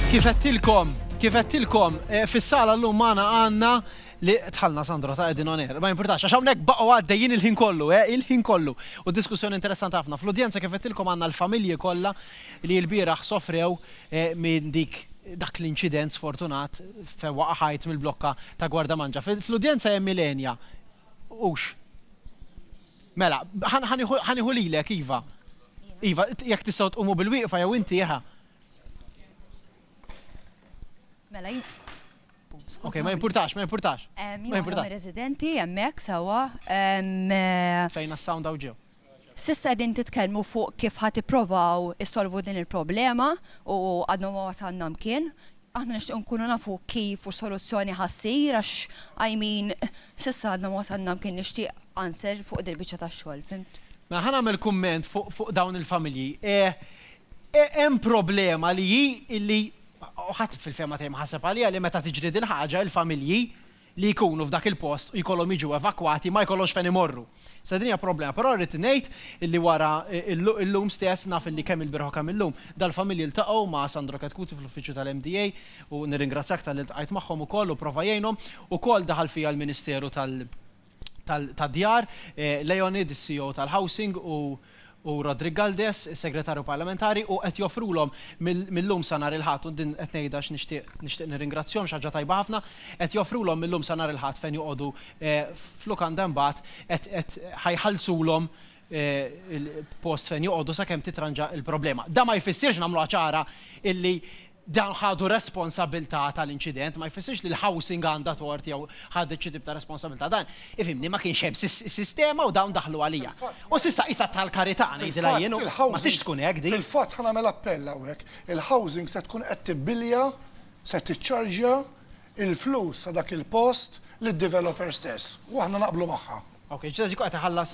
Kif għettilkom, kif għettilkom, eh, fis-sala l-lum maħna għanna li tħalna Sandra ta' Edin Oner. Ma jimportax, għax hawnhekk baqgħu għaddejjin il-ħin kollu, eh, il-ħin kollu. U diskussjoni interessanti ħafna. Fl-udjenza kif għettilkom għandna l-familji kollha li l-bieraħ sofrew eh, minn dik dak l-inċident sfortunat fe waqħajt mill-blokka ta' Gwarda Manġa. Fl-udjenza hemm Milenia. Ux. Mela, ħa nieħu lilek, iva. Iva, jekk tistgħu tqumu bil-wieqfa jew inti ħa. Mela, Ok, ma jimpurtax, ma jimpurtax. Ma jimpurtax. Residenti, jemmek, sawa. Eh, Fejna s-sound għaw ġew. Sissa din titkelmu fuq kif ħati provaw issolvu din il-problema u għadnu ma wasanna mkien, Aħna nixtiequ nkunu nafu kif u x'soluzzjoni ħa ssir għax I mean s'issa għadna ma wasalna mkien nixtieq answer fuq dil-biċċa ta' xogħol, fhimt? Mela ħa nagħmel kumment fuq dawn il-familji. Hemm problema li hi li ħadd fil-fehma tiegħi ma ħaseb għaliha li meta tiġri dil-ħaġa il-familji li jkunu f'dak il-post u jkollhom jiġu evakwati ma jkollhomx fejn imorru. Sa din hija problema, però rrid ngħid li wara illum stess, naf li kemm ilbieraħ u kemm illum, dal-familji ltaqgħu ma' Sandro Chetcuti fl-uffiċċju tal-MDA u nirringrazzjak talli ltqajt magħhom ukoll u prova jgħinhom. Ukoll daħal fija l-Ministeru tad-Djar, Leonid, is-CEO tal-Housing u, u Roderick Galdes, is-Segretarju Parlamentari, u qed joffrulhom mil-lum sa nhar il-Ħadd, u din qed ngħidha għax nixtieq nixtieq nirringrazzjahom xi ħaġa tajba ħafna, qed joffrulhom mil-lum sa nhar il-Ħadd fejn joqogħdu f'lukanda imbagħad qed qed ħa jħallsulhom post fejn joqogħdu sakemm titranġa l-problema. Dan ma jfissirx nagħmluha ċara illi dawn ħadu responsabbiltà tal-inċident ma jfissirx li l-housing għandha tort jew ħadet xi tip ta' responsabbiltà. Dan, ifhimni, ma kienx hemm sistema u dawn daħlu għalija. U s'issa qisha tal-karità, ngħidilha jien, u ma tridx tkun hekk din. Fil-fatt, ħa nagħmel appell hawnhekk, il-housing se tkun qed tibbilja, se tiċċarġja, il-flus ta' dak il-post lid-developer stess. U aħna naqblu magħha. Okej, ġiet qed iħallas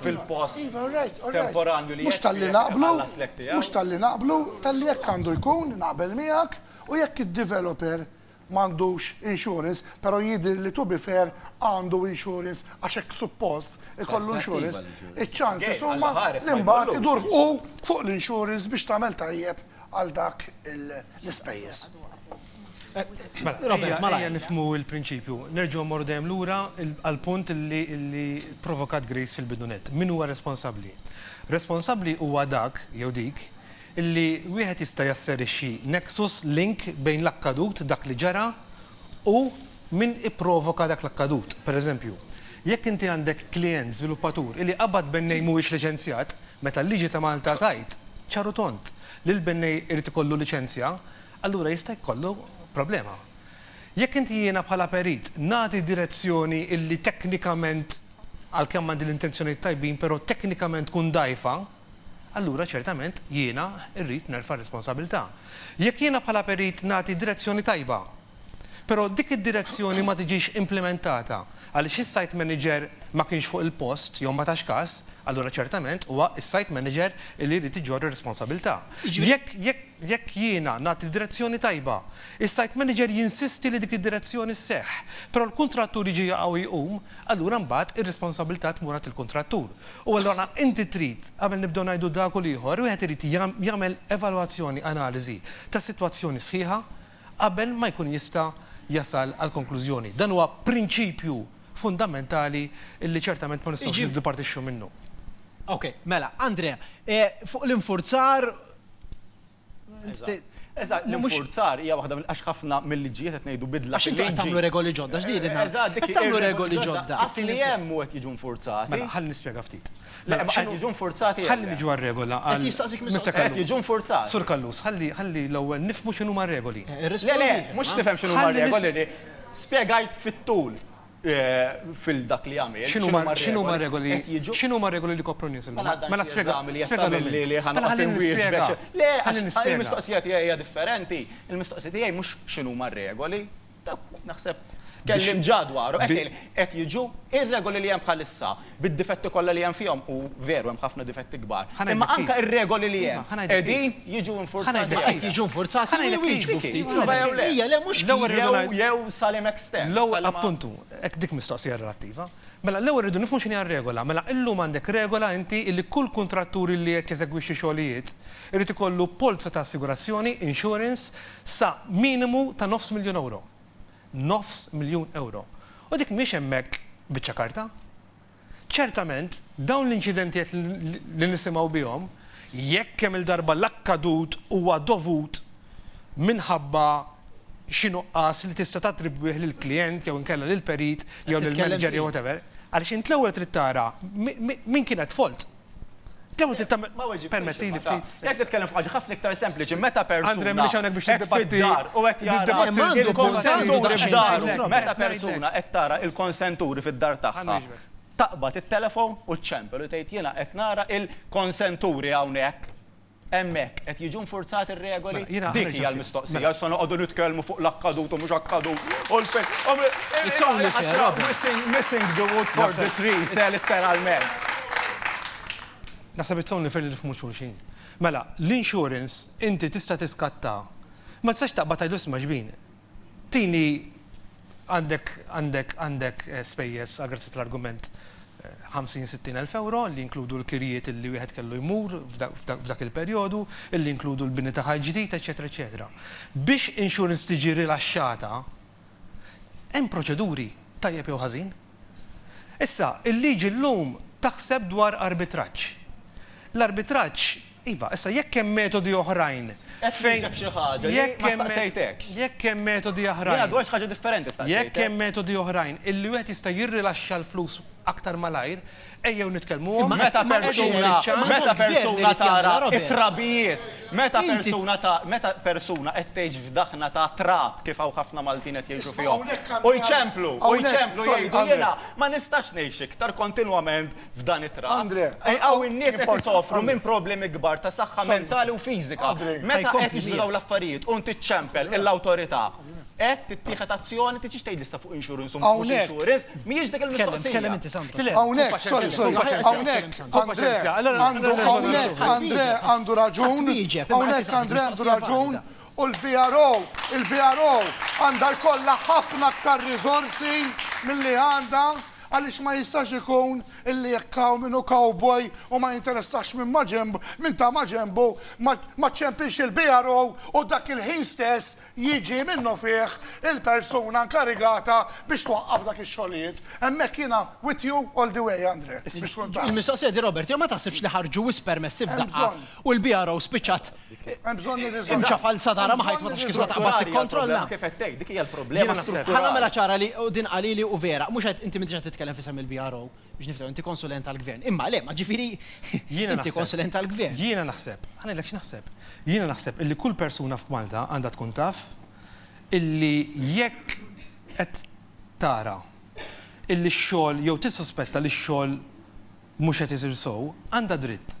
fil-post temporanju li jekk iħallas l-hekk tiegħu. Mhux talli naqblu, talli hekk għandu jkun, naqbel miegħek, u jekk id-developer m'għandux insurance, però jidhirli to be fair għandu insurance għax hekk suppost ikollu insurance, iċ-chances huma li mbagħad idur hu fuq l-insurance biex tagħmel tajjeb għal dak l-ispejjeż. Robert, ma lajja nifmu il-prinċipju. Nerġu morru dejjem lura għal-punt li provokat Grace fil-bidunet. Min huwa responsabli? Responsabli huwa dak, jew dik, li wieħed jista' jasserixxi nexus, link, bejn l-akkadut, dak li ġara, u min ipprovoka dak l-akkadut. Per eżempju, jekk inti għandek klijent żviluppatur li qabad bennej mhuwiex liċenzjat, meta l-liġi ta' Malta tgħid, ċar u tond, li l-bennej irid ikollu liċenzja, allura jista' jkollu problema. Jekk inti jiena bħala perit nagħti direzzjoni illi teknikament, għalkemm għandi l-intenzjonijiet tajbin, però teknikament tkun dgħajfa, allura ċertament jiena rrid nerfa' r-responsabilità. Jekk jiena bħala perit nagħti direzzjoni tajba, però dik id-direzzjoni ma tiġix implimentata għaliex is-site manager ma kienx fuq il-post jew ma tax kas, allura ċertament huwa s-site manager li jrid iġorr ir-responsabilità. Jekk, jekk. Jekk jiena nagħti l-direzzjoni tajba, is-site manager jinsisti li dik id-direzzjoni sseħħ, però l-kuntrattur jiġi jaqa' u jqum, allura mbagħad ir-responsabbiltà tmur għand il-kuntrattur. U allura inti trid, qabel nibdew ngħidu dak u l-ieħor, wieħed irid jagħmel evalwazzjoni, analiżi, tas-sitwazzjoni sħiħa qabel ma jkun jista' jasal għal konklużjoni. Dan huwa prinċipju fundamentali li ċertament ma nistgħux niddipartixxu minnu. Okej, mela, Andrea, fuq l-infurzar Eżatt, l-infurzar hija waħda għax ħafna mill-liġijiet qed ngħidu bidla. Għax intom qed tagħmlu regoli ġodda x'din inha. Eżatt, dik tagħmlu regoli ġodda. Assi li hemm u qed jiġu infurzati. Mela, ħalli nispjega ftit. Mela, qed jiġu infurzati. Ħalli niġu għar-regola. Qed jistaqsik mistoqsija. Qed jiġu infurzati. Sur Kallus, ħalli l-ewwel nifhmu x'inhuma r-regoli. Le, le, mhux nifhem x'inhuma r-regoli. Spjegajt fit-tul. fil dak li jagħmel. X'inhuma r-regoli? X'inhuma r-regoli li jkopru n-nies illum? Mela spjega. Ħalli nispjega. Le, il-mistoqsija tiegħi hija differenti. Il-mistoqsija tiegħi mhux x'inhuma r-regoli. Naħseb tkellimt ġa dwarhom. Qed jiġu r-regoli li hemm bħalissa. bid-difetti kollha li hemm fihom, u veru hemm ħafna difetti kbar, imma anke r-regoli li hemm qegħdin jiġu infurzati jew le. Ħa ngħidlek kif. Qed jiġu infurzati jew le. Ħa ngħidlek kif. Iva jew le. Ija, le, mhux kif. Jew, jew sa liema extent. L-ewwel, appuntu, hekk dik mistoqsija relattiva. Mela, l-ewwel irridu nifhmu x'inhi r-regola. Mela, illum għandek regola inti illi kull kuntrattur illi qed jeżegwixxi xogħlijiet irid ikollu polza ta' assigurazzjoni, insurance, sa minimu ta' nofs miljun ewro. nofs miljun ewro. U dik mhix hemmhekk biċċa karta. Ċertament, dawn l-inċidentiet li nisimgħu bihom, jekk kemm-il darba l-akkadut huwa dovut minħabba xi nuqqas li tista' tattribwih lill-klijent jew inkella lill-perit jew lill-manager jew whatever, għaliex int l-ewwel trid tara min kien at fault. Permettili ftit. Jekk titkellem fuq ħafna iktar sempliċi, meta persuna. Andre mhux hawnhekk biex niddibattiti. U hekk jara il-konsenturi f'dar. Meta persuna qed tara il-konsenturi fid-dar tagħha. Taqbad it-telefon u ċċempel u tgħid jiena qed nara il-konsenturi hawnhekk. Hemmhekk qed jiġu infurzati r-regoli? Mela, jiena Dik hija l-mistoqsija, mela. issa noqogħdu nitkellmu fuq l-akkadut u mhux akkadut u l-fejn. It's only fair, Robert. Missing the wood for the trees, eh, litteralment. Naħseb it's only fair li nifhmu xulxin. Mela, l-insurance inti tista' tiskattha. Ma tistax taqbad tgħidlu isma' xbin, Tini, għandek, għandek, għandek spejjeż għal grazzja tal-argument 50, 60 elf ewro li jinkludu l-kirjiet illi wieħed kellu jmur f'dak il-perjodu, illi jinkludu l-bini ta' ħajt ġdid, eċċetera, eċċetera. Biex insurance tiġi rilaxxata hemm proċeduri, tajjeb jew ħażin. Issa, il-liġi llum taħseb dwar arbitraġġ. L-arbitraġġ, iva, issa jekk hemm metodi oħrajn fejn. Qed nieġeb xi ħaġa li ma staqsejtekx. Jekk hemm metodi oħrajn. Jiena dwar xi ħaġa differenti staqsejtek. Jekk hemm metodi oħrajn illi wieħed jista' jirrilaxxa l-flus aktar malajr, Ejjew nitkellmuhom. Imma meta persuna, meta persuna tara t-trabijiet, meta persuna ta' meta persuna qed tgħix f'daħna ta' trab kif hawn ħafna Maltin qed jgħixu fihom, u jċemplu, u jċemplu jgħidu jiena ma nistax ngħix iktar kontinwament f'dan it-trab. Hawn in-nies qed isofru minn problemi kbar ta' saħħa mentali u fiżika. Meta qed jiġru dawn l-affarijiet u inti ċċempel lill-awtorità, Hekk tittieħed azzjoni, trid xi tgħid issa fuq insurance u mhux insurance, mhijiex dik il-mistoqsija. Hawnhekk, sorry, sorry, hawnhekk Andrè għandu hawnhekk Andrè għandu raġun, hawnhekk Andrè għandu raġun u l-BRO, il-BRO għandha jkollha ħafna aktar riżorsi milli għandha għaliex ma jistax ikun illi jekk hawn min hu cowboy u ma jinteressax minn ma' ġenbu, minn ta' ma' ġenbu, ma ċċempilx il-BRO u dak il-ħin stess jiġi minnufih il-persuna nkarigata biex twaqqaf dak ix-xogħlijiet. Hemmhekk jiena with you all the way, Andre, biex tkun taf. Il-mistoqsija di Robert, jew ma taħsibx li ħarġu wisq permessi f'daqqa u l-BRO spiċċat imċa falza darha ma ħajt ma tafx kif se taqbad tikkontrolla? Ħa nagħmilha ċara li, u din qalili u vera, mhux qed, inti m'intix qed titkellem f'isem il-BRO, Biex niftaw, inti konsulent tal-gvern. Imma le, ma ġifiri, inti konsulent tal-gvern. Jiena naħseb, ħa ngħidlek x'naħseb. Jiena naħseb illi kull persuna f'Malta għandha tkun taf illi jekk qed tara illi x-xogħol jew tissuspetta li x-xogħol mhux qed isir sew, għandha dritt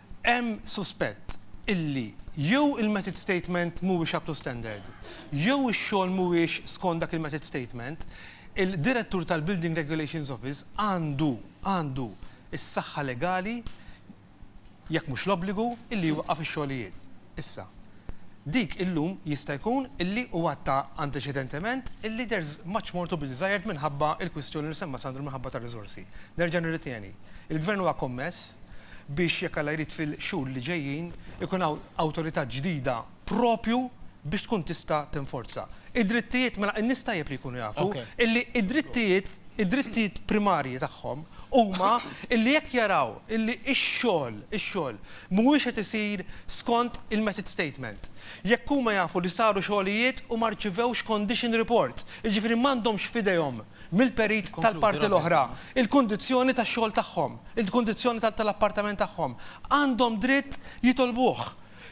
hemm suspett illi jew il-method statement mhuwiex up to standard, jew ix-xogħol mhuwiex skont dak il-method statement, il-Direttur tal-Building Regulations Office għandu, għandu, is-saħħa legali, jekk mhux l-obbligu, illi jwaqqaf ix-xogħlijiet. Issa. Dik illum jista' jkun illi u għadtha anteċedentement illi there's much more to be desired minħabba l-kwistjoni li semma Sandro minħabba tar-riżorsi. Nerġa' nirritieni, il-Gvern huwa kommess biex jekk Alla jrid fil-xhur li ġejjin ikun hawn awtorità ġdida proprju biex tkun tista' tinforza. Id-drittijiet, mela n-nies tajjeb li jkunu jafu illi d-drittijiet, id-drittijiet primarji tagħhom huma illi jekk jaraw illi x-xogħol, ix-xogħol mhuwiex qed isir skont il-method statement. Jekk huma jafu li saru xogħlijiet u ma rċivewx condition report, jiġifieri m'għandhomx f'idejhom mill-perit tal-parti l-oħra il-kundizzjoni tax-xogħol tagħhom, il-kundizzjoni tal-appartament tagħhom, għandhom dritt jitolbuh.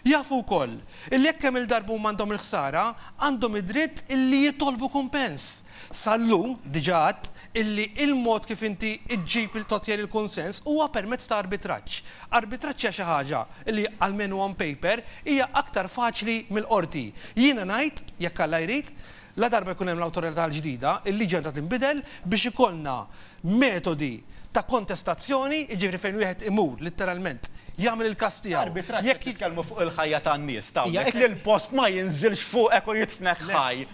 Jafu wkoll li jekk kemm-il darba huma għandhom il-ħsara, għandhom id-dritt li jitolbu kumpens. Sal-lum, diġà għedt, illi il-mod kif inti ġġib il totjer il-kunsens huwa permezz ta' arbitraġġ. Arbitraġġ hija xi ħaġa li, almenu on paper, hija aktar faċli mill-Qorti. Jiena ngħid, jekk Alla jrid, ladarba jkun hemm l-Awtorità l-ġdida, il-liġi għandha tinbidel biex ikollna metodi ta' kontestazzjoni, jiġifieri fejn wieħed imur, litteralment, jagħmel il-każ tiegħu. Arbitraġġ qed nitkellmu fuq il-ħajja tan-nies, tgħawdlek li l-post ma jinżilx fuqek u jidfnek ħaj.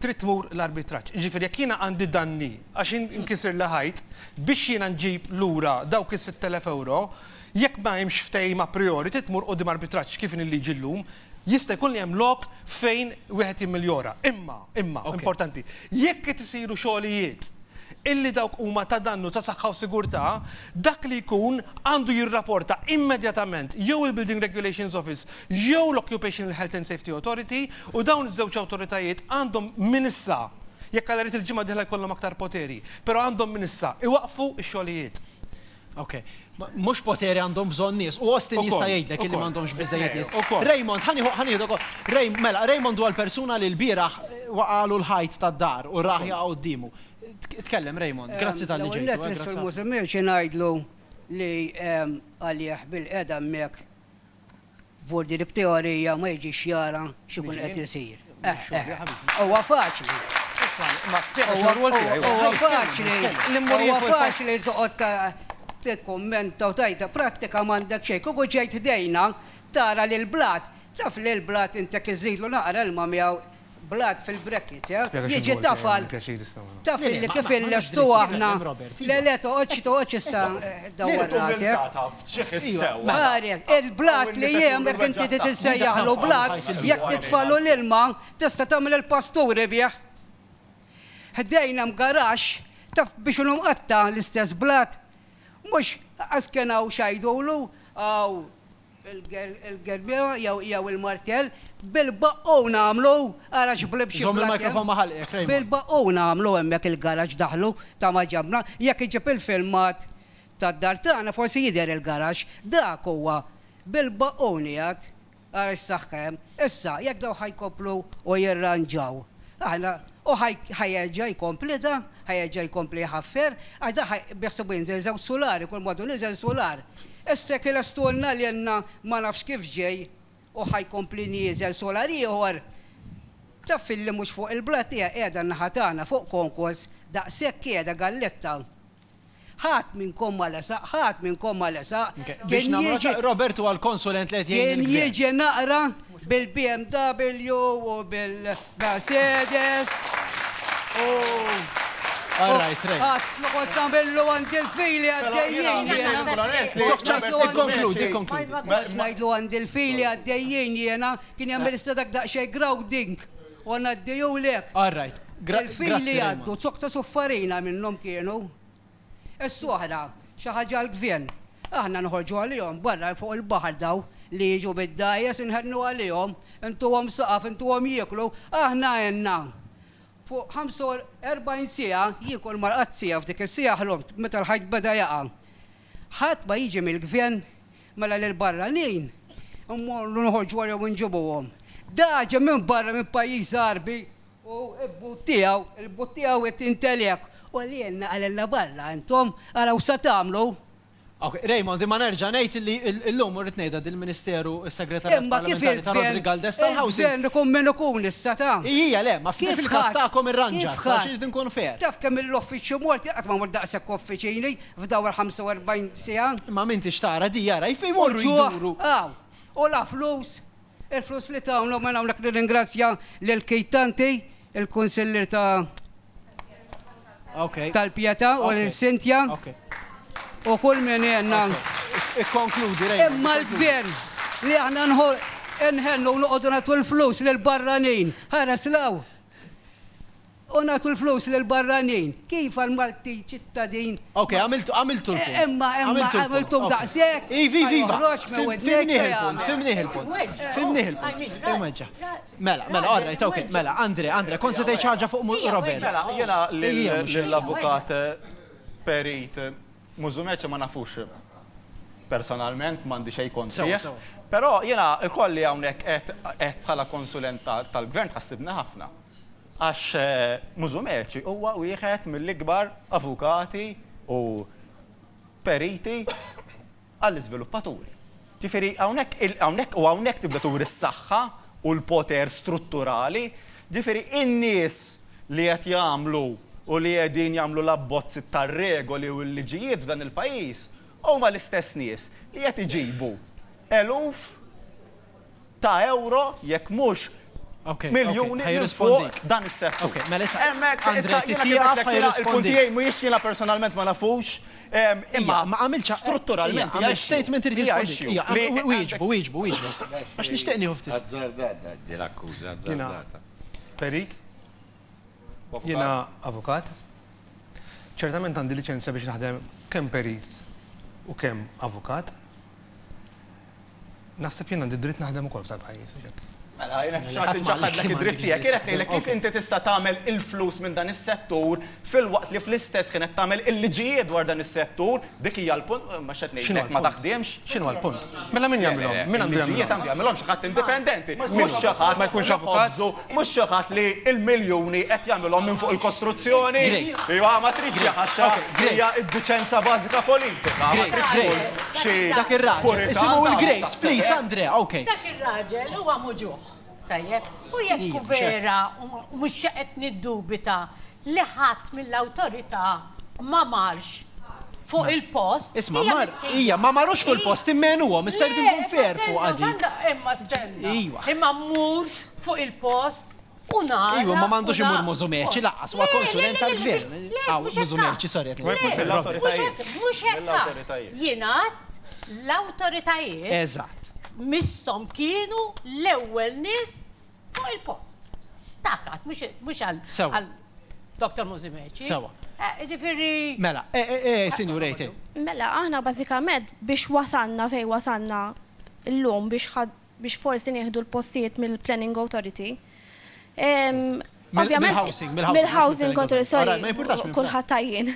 trid tmur l-arbitraġġ. Jiġifieri jekk jiena għandi danni għax inkisirli ħajt, biex jiena nġib lura dawk is-sitt elef ewro, jekk ma hemmx ftehim a priori trid tmur quddiem arbitraġġ kif inhi l-liġi llum, jista' jkun li hemm lok fejn wieħed jimmiljora. Imma, imma, importanti, jekk qed isiru xogħlijiet illi dawk huma ta' dannu ta' saħħa u sigurtà, dak li jkun għandu jirraporta immedjatament jew il-Building Regulations Office jew l-Occupational Health and Safety Authority, u dawn iż-żewġ awtoritajiet għandhom minn issa, jekk Alla jrid il-ġimgħa d-dieħla jkollhom aktar poteri, però għandhom minn issa iwaqqfu x-xogħlijiet. Ok. Mhux poteri għandhom bżonn nies, u Austin jista' jgħidlek illi m'għandhomx biżżejjed nies. Raymond, ħa nieħu, ħa nieħdu wkoll. Raymond, mela, Raymond huwa l-persuna li l-bieraħ waqagħlu l-ħajt tad-dar u rah jaqa' quddiemu. Tkellem, Raymond. Grazzi talli ġejtu. L-ewwel nett lis-Sur Musumeci ngħidlu li għalih bil-qiegħda hemmhekk F'ordni li b'teorija ma jiġix jara x'ikun qed isir. Eħ, eħ. Huwa faċli. Huwa faċli. Huwa faċli toqgħod tikkummenta u tgħid prattika m'għandek xejn. Kieku ġejt ħdejna tara lill-blat, taf li l-blat intek iżidlu naqra ilma miegħu, blood fil-brackets yeah, jiġi tafal, taf li kif illestu aħna, le le toqgħodx toqgħodx issa dawwar rasek. Ħares, il-blood li jiem jekk inti titissejjaħlu blood, jekk titfalu l-ilma, tista' tagħmel il-pasturi bih. Ħdejn hemm garax, taf biex hu mqatta' l-istess blood, mhux għax kien hawn x'għidulu, hawn il-gerbiera jew il-martell, bil-baqqu nagħmlu, ara x'blib xi blakja, bil-baqqu nagħmlu hemmhekk il-garaxx daħlu ta' ma ġabna, jekk iġib il-filmat tad-dar tagħna forsi jidher il-garaxx, dak huwa bil-baqqu nieqed, ara x'saħħa hemm. Issa, jekk dawn ħa jkomplu u jirranġaw, aħna U ħa jerġa' jkomplitha, ħa jerġa' jkompli jħaffer, għax dak ħa biħsiebu jinżel żewġ sulari, kull m'għadu niżel sular. Issa jekk ilestulna lilna ma nafx kif ġej u ħa jkompli nieżel sular ieħor, taf filli mhux fuq il-blat qiegħda n-naħa tagħna, fuq Konkos, daqshekk qiegħda galletta. Ħadd minnkom ma lesaq, ħadd minnkom ma lesaq. Biex nagħmlu ċaqliq Robert huwa l-konsulent li qed jgħin lill-gvern. Kien jiġi naqra bil-BMW u bil-Mercedes u. All right, right. Għat, noqgħod tagħmillu għandi l-fili għaddejjin. Ikkonkludi, ikkonkludi. Ngħidlu għandi l-fili għaddejjin jiena kien jagħmel issa dak daqsxejn grounding. U ngħaddihulek. All right. Grazzi Rayman. Il-fili jgħaddu, zoktos u farina minnhom kienu. Issa oħra, xi ħaġa għall-gvern. Aħna noħorġu għalihom barra fuq il-baħar dawn li jiġu bid-dgħajjes inħennu għalihom, intuhom saqaf, intuhom jieklu, aħna għenna. Fuq 45 siegħa jiekol marqazzija f'dik is-siegħa ħlomt meta l-ħajt beda jaqa'. Ħadd ma jiġi mill-gvern, mela lill-barranin immorru noħorġu warajhom u nġibuhom. Dak ġej minn barra minn pajjiż Għarbi u l-but tiegħu, il-but tiegħu qed jintgħeli hekk. U għalielna, għalielna barra intom, araw sa tagħmlu. Okej, Raymond, imma nerġa' ngħid li llum, u rrid ngħidha din l-Ministeru, is-Segretarjat Parlamentari ta' Roderick Galdes tal-Housing. Imma kif il-gvern, il-gvern ikun min ikun issa ta'. Ijija, le, ma f'kif il-każ tagħkom irranġa, għax irrid inkun fair. Taf kemm il-uffiċċju mort, jien qatt ma mort daqshekk uffiċini, F'daw il-45 siegħa. Imma min tix tara di jara kif imorru jduru. U ġuħ hawn. U la flus, il-flus li tawna u minn hawnhekk nirringrazzja lil Keith Tanti, il-Kunsillier ta' tal-Pietà u lil Cynthia u kull min għenna. Ikkonkludi Raymond. Imma l-gvern li aħna nħennu u noqogħdu nagħtu l-flus lil barranin, ħares 'l hawn. U nagħtu l-flus lill-barranin. Kif għall-Maltin ċittadin? Ok, għamiltu, għamiltu l-punt. Eh, imma, imma, għamiltu daqshekk. Iva, iva, iva. Fimnih il-punt, fimnih il-punt. Fimnih il-punt. Imweġġa. Mela, mela, all right, ok. Mela, Andre, Andre, kont se tgħid ħaġa fuq Robert. Mela, jiena lill-avukat eh, perit eh, Mużumeċ ma nafux eh, personalment m'għandi xejn kontrih. Però jiena ikolli hawnhekk qed bħala konsulent tal-gvern tħassibna ħafna. Għax Musumeci huwa wieħed mill-ikbar avukati u periti għall-iżviluppaturi. Ġifieri hawnhekk il, hawnhekk u hawnhekk tibda turi s-saħħa u l-poter strutturali, ġifieri in-nies li qed jagħmlu u li qegħdin jagħmlu l-abbozzi tar-regoli u l-liġijiet f'dan il-pajjiż huma l-istess nies li qed iġibu eluf ta' euro jekk mhux miljuni minn fuq dan is-settur. Hemmhekk issa jiena kif għedtlek jiena il-punt tiegħi mhuwiex jiena personalment ma nafux imma strutturalment hija issue. Hija issue. Hija issue. Hija issue. Wieġbu, wieġbu, wieġbu. Għax nixtieq nieħu ftit. Azzardata din l-akkuża, azzardata. Jiena perit, jiena avukat, ċertament għandi liċenzja biex naħdem kemm perit u kemm avukat. Naħseb jien għandi d-dritt naħdem ukoll f'dan il-pajjiż, mhux hekk? Mela, jien hekk xtaqt inċaħħadlek id-dritt tiegħek. Jien qed ngħidlek kif inti tista' tagħmel il-flus minn dan is-settur filwaqt li fl-istess ħin qed tagħmel il-liġijiet dwar dan is-settur. Dik hija l-punt, ma x'qed ngħidlek, ma taħdimx. X'inhuwa l-punt? Mela min jagħmilhom? Min għandu jagħmilhom? Il-liġijiet għandu jagħmilhom xi ħadd indipendenti, mhux xi ħadd li jħobżu Mhux xi ħadd li l-miljuni qed jagħmilhom minn fuq il-kostruzzjoni. Iva, ma tridx xi ħassa, hija d-diċenza bażika politika. Ma tridx tkun xi Dak ir-raġel, puritan isimu ta' il-Grace, taħseb please, hekk. Andrea, ok. Dak ir-raġel huwa muġugħ, tajjeb? U jekk hu vera, u mhux qed niddubita, li ħadd mill-awtorità ma marx fuq il-post. Isma' hija mar, mistiedna. hija ma marux fuq il-post, immegħnuhom, issa jridu Le, jkun imma fair stenna, fuqha dik. ġanda, Imma stenna. Ejwa. Imma mmur fuq il-post u nara. Ejwa, ma m'għandux u na- imur Musumeci laqqas, huwa Le, le, konsulent le, le, tal-gvern. mhux- le, Aw, mhux hekk. Musumeci, sorry, qed Le, ngħid. Mhux mill-awtoritajiet. mhux hekk, mhux hekk. Mill-awtoritajiet. Jien għadt l-awtoritajiet Eżatt. misshom kienu l-ewwel nies Fuq il-post. Dak għad, mhux għal Dr. Mużimeċi. Sewa. Eh, ġifieri. Mela, eh, eh, sinjur Ejtin. Mela, aħna bażikament biex wasanna fej wasanna l-lum biex biex forsi nieħdu l-postijiet mill-Planning Authority. Ovvjament, mill-housing control, sorry, kullħat tajjien.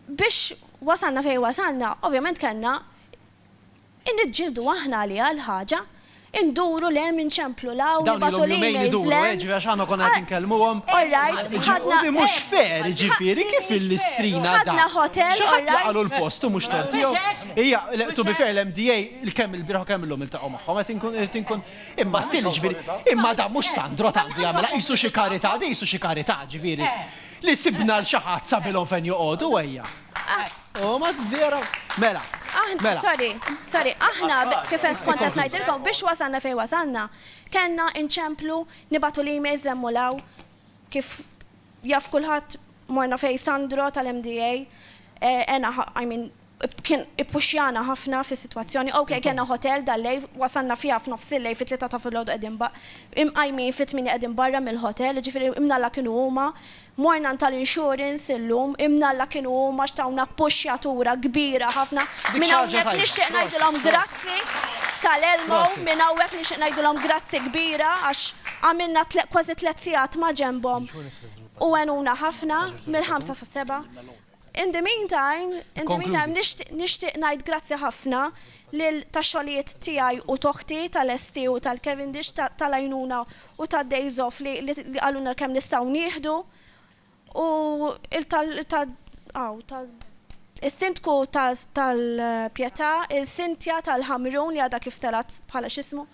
Biex wasanna fej wasanna, ovvjament kellna Niġġieldu aħna għaliha l-ħaġa. Induru 'l hemm, inċemplu 'l hawn, nibagħtu l-emails 'l hemm. Orrajt, ħadna. Ħadna ħotel, orrajt. Huma vera. Mela. Aħna, mela. sorry, sorry, aħna kif qed kont qed ngħidilkom biex wasalna fejn wasalna, kellna inċemplu nibatu li emails lemmulaw kif jaf kulħadd morna fej Sandro tal-MDA, eh, ena, I mean, kien ippuxjana ħafna fis situazzjoni ok, kena hotel dal-lej, wasanna fija f'nofs il-lej fit tlita ta' fil-ħodu għedin imqajmi fit-tmini għedin barra mill-hotel, ġifiri imnalla kienu huma, Morna għand tal-insurance illum, imnalla kienu huma għax tawna puxxjatura kbira ħafna. Minn hawnhekk nixtieq ngħidilhom grazzi tal-Elmo, minn hawnhekk nixtieq ngħidilhom grazzi kbira għax għamilna kważi tliet sigħat ma' ġenbhom u għenuna ħafna mill-ħamsa sas-seba'. In the meantime, in the meantime, nixtieq ngħid grazzi ħafna lil tax-xogħlijiet tiegħi u t'oħti tal-ST u tal-Cavendish tal-għajnuna u tad-days off li qalulna kemm nistgħu nieħdu u tal-Sindku tal-Pietà, il-Cynthia tal-Ħamrun li għadha kif telgħet bħala x'ismu.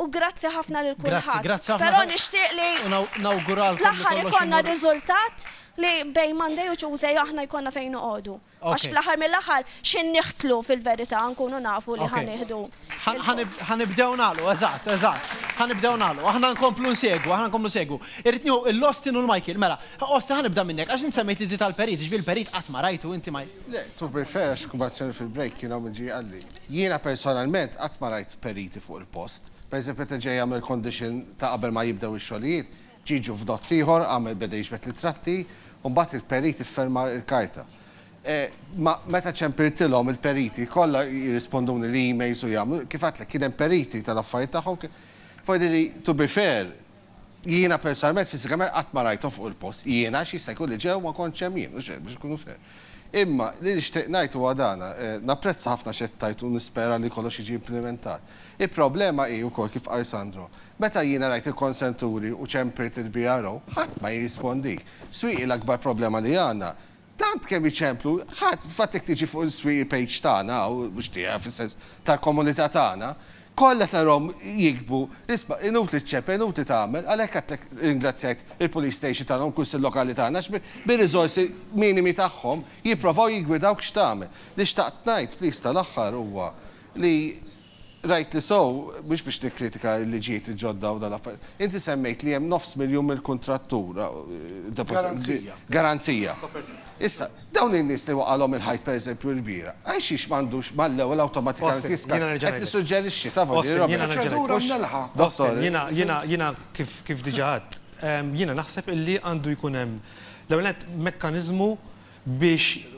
U grazzi ħafna lil kulħadd. Grazzi, grazzi ħafna. Però nixtieq li fl-aħħar ikollna riżultat li bejn Monday u Tuesday aħna jkollna fejn noqogħdu. Għax fl-aħħar mill-aħħar x'in niħtlu fil-verità nkunu nafu li ħanieħdu. Ħanibdew nagħlu, eżatt, eżatt. Ħanibdew nagħlu. Aħna nkomplu nsegwu, aħna nkomplu nsegwu. Irrid nieħu l-Austin u l-Michael. Mela, Austin ħanibda minnek għax int semmejt li tal-perit, ġifieri l-perit qatt ma rajtu inti ma. Le, to be fair, x'kubazzjoni fil-break kien hawn min ġie qalli. Jiena personalment qatt ma rajt periti fuq il-post. Pereżempju meta ġej jagħmel condition ta' qabel ma jibdew ix-xogħlijiet, Ġiġu f'dott ieħor għamel beda jiġbed l-ittratti u mbagħad il-perit ifferma l-karta. Ma meta ċempiltilhom il-periti kollha jirrisponduni li emails u jagħmlu, kif għedtlek kien hemm periti tal-affarijiet tagħhom, forsi to be fair, Jiena personalment fiżikament qatt ma rajthom fuq il-post. Jiena għax jista' jkun li ġew ma kontx hemm jien, mhux hekk, biex inkunu fair. Imma li nixtieq ngħid huwa dan, napprezza ħafna x'qed tgħid u nispera li kollox jiġi implimentat. Il-problema hi wkoll kif qal Sandro. Meta jiena rajt il-konsenturi u ċempriet il-BRO, ħadd ma jirrispondik. Swieqi l-akbar problema li għandna. Tant kemm iċemplu, ħadd, fil-fatt jekk tiġi fuq il-swieqi page tagħna hawn, mhux tiegħi fis-sens tal-komunità tagħna, kollha tarahom jiktbu, isma' inutli ċċempel, inutli tagħmel, għalhekk għedtlek irringrazzjajt il-Police Station tagħna u l-Kunsill Lokali tagħna għax bir-riżorsi minimi tagħhom jipprovaw jiggwidawk x'tagħmel. Li xtaqt ngħid, please, tal-aħħar huwa li, Rajtni sew, mhux biex nikkritika l-liġijiet il-ġodda u dan l-affarijiet. Inti semmejt li hemm nofs miljun mill-kuntrattur. Garanzija. Garanzija. Issa, dawn in-nies li waqalhom il-ħajt pereżempju l-bira, għalxiex m'għandux mal-ewwel awtomatikament jiska. Qed nissuġġerixxi, taf għandi roba. Jiena nerġa' ngħidlek. Dottor, jiena kif diġà għedt, jiena naħseb illi għandu jkun hemm l-ewwel nett mekkaniżmu biex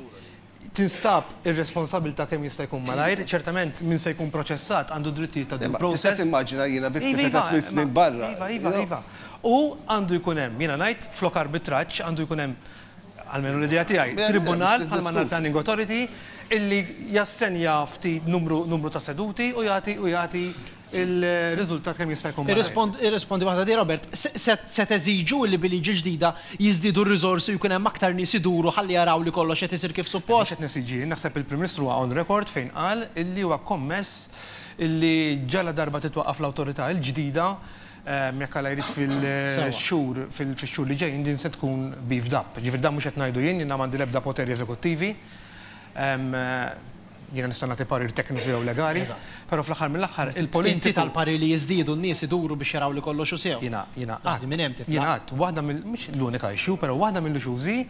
tinstab ir-responsabbiltà kemm jista' jkun malajr, ċertament min se jkun proċessat għandu d-drittijiet ta' due process. Tista' timmaġina jiena vittmi ta' tliet snin barra. Iva, iva, iva, iva. U għandu jkun hemm, jiena ngħid, flok arbitraġġ għandu jkun hemm, almenu l-idea tiegħi, tribunal bħalma għandna l-planning authority illi jassenja ftit numru ta' seduti u jagħti u jagħti il-riżultat kemm jista' jkun malajr. Irrispondi waħda di Robert, se teżiġu li bil-liġi ġdida jiżdiedu r-riżorsi u jkun hemm aktar nies iduru ħalli jaraw li kollox qed isir kif suppost? Mhux qed nesiġi jien, naħseb il-Prim Ministru huwa on record fejn qal illi huwa kommess illi ġaladarba titwaqqaf l-Awtorità l-ġdida, jekk Alla jrid fil-xhur fix-xhur li ġejjin din se tkun beefed up. Jiġifieri dan mhux qed ngħidu jien, jiena m'għandi l-ebda poteri eżekuttivi. jiena nista' nagħti parir tekniku jew legali, però fl-aħħar mill-aħħar il-politiku. Inti tal-parir li jiżdiedu n-nies iduru biex jaraw li kollox hu sew. Jiena, jiena qatt. Minn hemm titlaq. Jiena qatt, waħda mill, mhux l-unika issue, però waħda mill-issues hi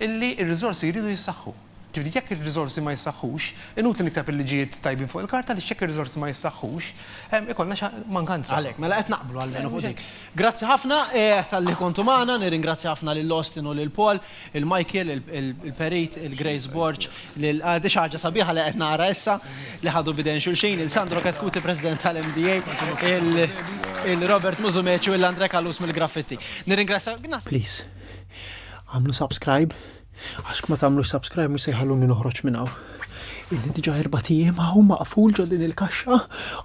illi r-riżorsi jridu jissaħħu. Ġifieri jekk ir-riżorsi ma jissaħħux, inutli nikteb il-liġijiet tajbin fuq il-karta għaliex jekk ir-riżorsi ma jissaħħux, ikollna xi mankanza. Għalhekk, mela qed naqblu almenu fuq dik. Grazzi ħafna talli kontu magħna, nirringrazzja ħafna lil Austin u lil Paul. lil Michael, il-Perit, lil Grace Borg, lil, di xi ħaġa sabiħa li qed nara issa, li ħadu b'idejn xulxin, lil Sandro Chetcuti, President tal-MDA, lil Robert Musumeci u lil Andre Callus mill-Graffiti. Nirringrazzja. Please, agħmlu subscribe, għax jekk ma tagħmlux subscribe mhux se jħalluni noħroġ minn hawn. Ilni diġà erbat ijiem hawn maqful ġo din il-kaxxa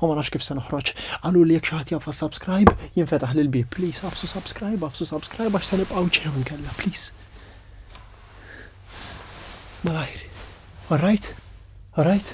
u ma nafx kif se noħroġ. Qaluli jekk xi ħadd jaf għas-subscribe jinfetaħli l-bieb. Please għafsu subscribe, għafsu subscribe għax se nibqgħu ġew inkella, please. Malajr. All right? All right?